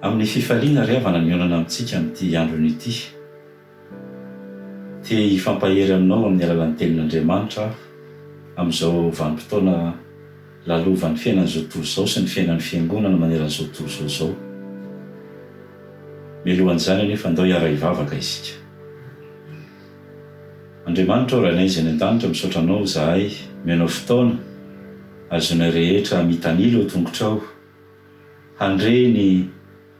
Amin'ny fifaliana ry havana mionana amintsika amin'ity androny ity. Te hifampahery aminao amin'ny alalan'ny Tenin'Andriamanitra aho amin'izao vanim-potoana lalovan'ny fiainan'izao tontolo izao sy ny fiainan'ny Fiangonana maneran'izao tontolo izao izao. Mialohan'izany anefa, andao hiara-hivavaka isika. Andriamanitra o Rainay izay any an-danitra misaotra Anao izahay omenao fotoana ahazoanay rehetra mitanila eo tongotrao handre ny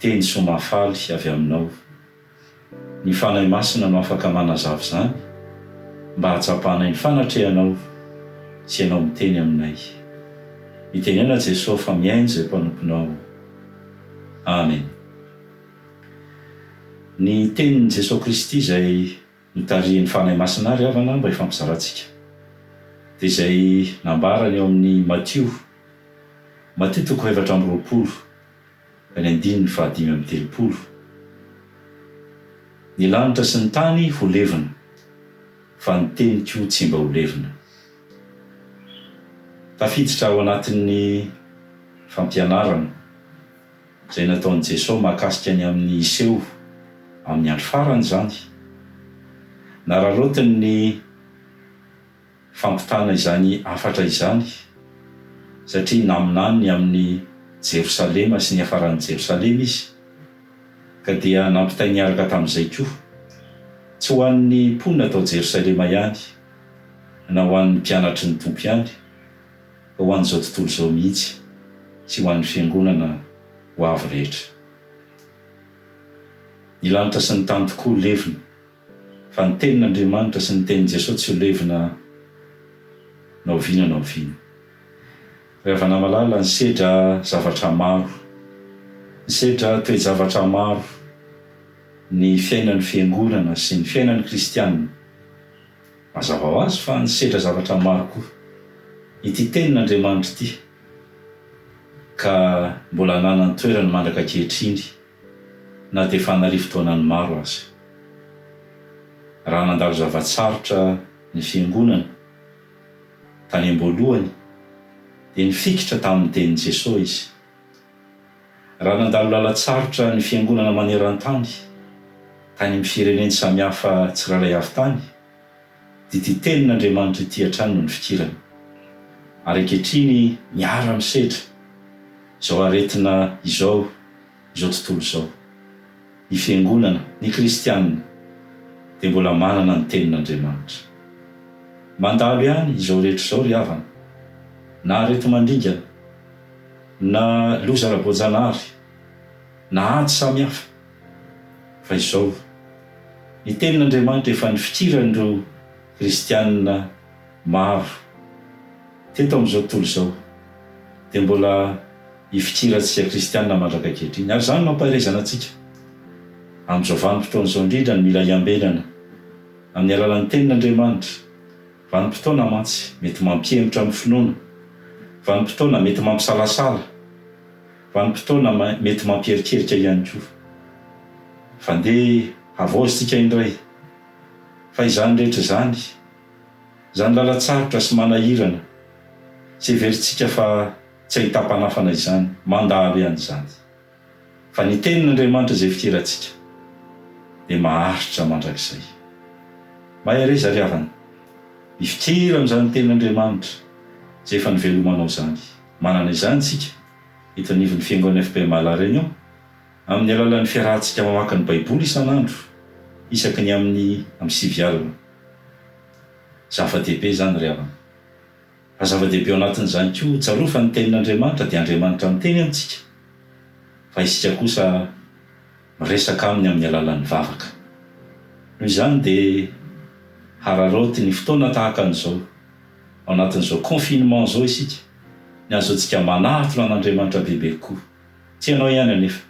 teny soa mahafaly avy Aminao. Ny Fanahy Masina no afaka manazava izany mba hahatsapanay ny fanatrehanao sy Ianao miteny aminay. Mitenena Jesoa fa mihaino izay mpanomponao. Amen. Ny Tenin'i Jesoa Kristy izay notarihin'ny Fanahy Masina àry havana mba hifampizarantsika, dia izay nambarany ao amin'ny Matio, Matio toko fahaefatra amby roapolo, ka ny andininy fahadimy amby telopolo, Ny lanitra sy ny tany ho levona, fa ny teniko tsy mba ho levona. Tafiditra ao anatin'ny fampianarana. Izay nataon'i Jesoa mahakasika ny amin'ny hiseho amin'ny andro farany izany. Nararaotiny ny fampitana izany hafatra izany, satria naminany ny amin'i Jerosalema sy ny hiafaran'i Jerosalema Izy, ka dia nampitainy niaraka tamin'izay koa, tsy ho an'ny mponina tao Jerosalema ihany, na ho an'ny mpianatry ny Tompo ihany, ho an'izao tontolo izao mihitsy sy ho an'ny Fiangonana ho avy rehetra. Ny lanitra sy ny tany tokoa ho levona, fa ny Tenin'Andriamanitra sy ny Tenin'i Jesoa tsy ho levona na oviana na oviana. Ry havana malala, nisedra zavatra maro, nisedra toe-javatra maro ny fiainan'ny Fiangonana sy ny fiainan'ny Kristiana. Mazava ho azy fa nisedra zavatra maro koa ity Tenin' Andriamanitra ity, ka mbola hanana ny toerany mandraka ankehitriny na dia efa an'arivo taonany maro aza. Raha nandalo zava-tsarotra ny Fiangonana tany am-boalohany, dia nifikitra tamin'ny Tenin'i Jesosy izy. Raha nandalo lalan-tsarotra ny Fiangonana maneran-tany tany amin'ny fireneny samihafa tsirairay avy tany, dia ity Tenin'Andriamanitra ity hatrany no nifikirany. Ary ankehitriny miara-misedra izao aretina izao izao tontolo izao. Ny Fiangonana, ny Kristianina, dia mbola manana ny Tenin'Andriamanitra. Mandalo ihany izao rehetra izao ry havana, na areti-mandringana, Na loza ara-boajanahary, na ady samihafa. Fa izao, ny Tenin'Andriamanitra efa nifikiran'ireo Kristiana maro teto amin'izao tontolo izao, dia mbola hifikirantsika Kristiana mandraka ankehitriny. Ary izany mampaherezana antsika. Amin'izao vanim-potoana izao indrindra no mila hiambenana amin'ny alalan'ny Tenin'Andriamanitra. Vanim-potoana mantsy mety mampihemotra ny finoana, vanim-potoana mety mampisalasala, vanim-potoana mety mampierikerika ihany koa. Fa ndeha havaozy isika indray fa izany rehetra izany, izany lalan-tsarotra sy manahirana izay heverintsika fa tsy ahita-panafana izany, mandalo ihany izany. Fa ny Tenin'Andriamanitra izay fidirantsika dia maharitra mandrakizay. Mahereza ry havana, mifidira amin'izany Tenin'Andriamanitra izay efa nivelomanao izany. Manana izany isika eto anivon'ny Fiangonan'ny FPMA La Réunion amin'ny alalan'ny fiarahantsika mamaky ny Baiboly isan'andro isaky ny amin'ny amin'ny sivy alina. Zava-dehibe izany ry havana. Fa zava-dehibe ao anatin'izany koa ho tsaroa fa ny Tenin'Andriamanitra dia Andriamanitra miteny amintsika, fa isika kosa miresaka Aminy amin'ny alalan'ny vavaka. Noho izany dia hararaoty ny fotoana tahaka an'izao, ao anatin'izao confinement izao isika, ny ahazoantsika manatona an'Andriamanitra bebe kokoa. Tsy ianao ihany anefa,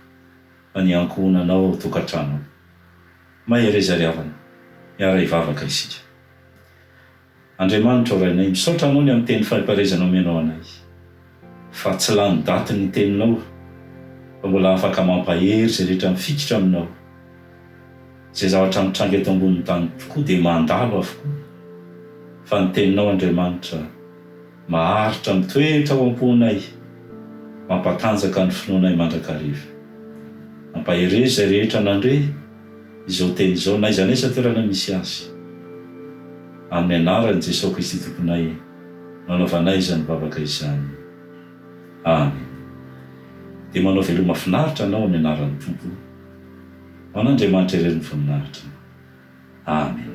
fa ny ankohonanao ao an-tokantrano ao. Mahereza ry havana, miara-hivavaka isika. Andriamanitra o Rainay, misaotra Anao ny amin'ny teny fari-pahaizana omenao anay. Fa tsy lany daty ny Teninao, fa mbola afaka mampahery izay rehetra mifikitra Aminao. Izay zavatra mitranga eto ambonin'ny tany tokoa dia mandalo avokoa, fa ny Teninao Andriamanitra Maharitra mitoetra ao am-ponay, mampatanjaka ny finoanay mandrakariva. Mampahery izay rehetra nandre izao teny izao, n'aiza n'aiza toerana misy azy. Amin'ny anaran'i Jesosy Kristy Tomponay no anaovanay izany vavaka izany. Amen. Dia manao veloma finaritra anao amin'ny anaran'ny Tompo. Ho an'Andriamanitra irery ny voninahitra. Amen.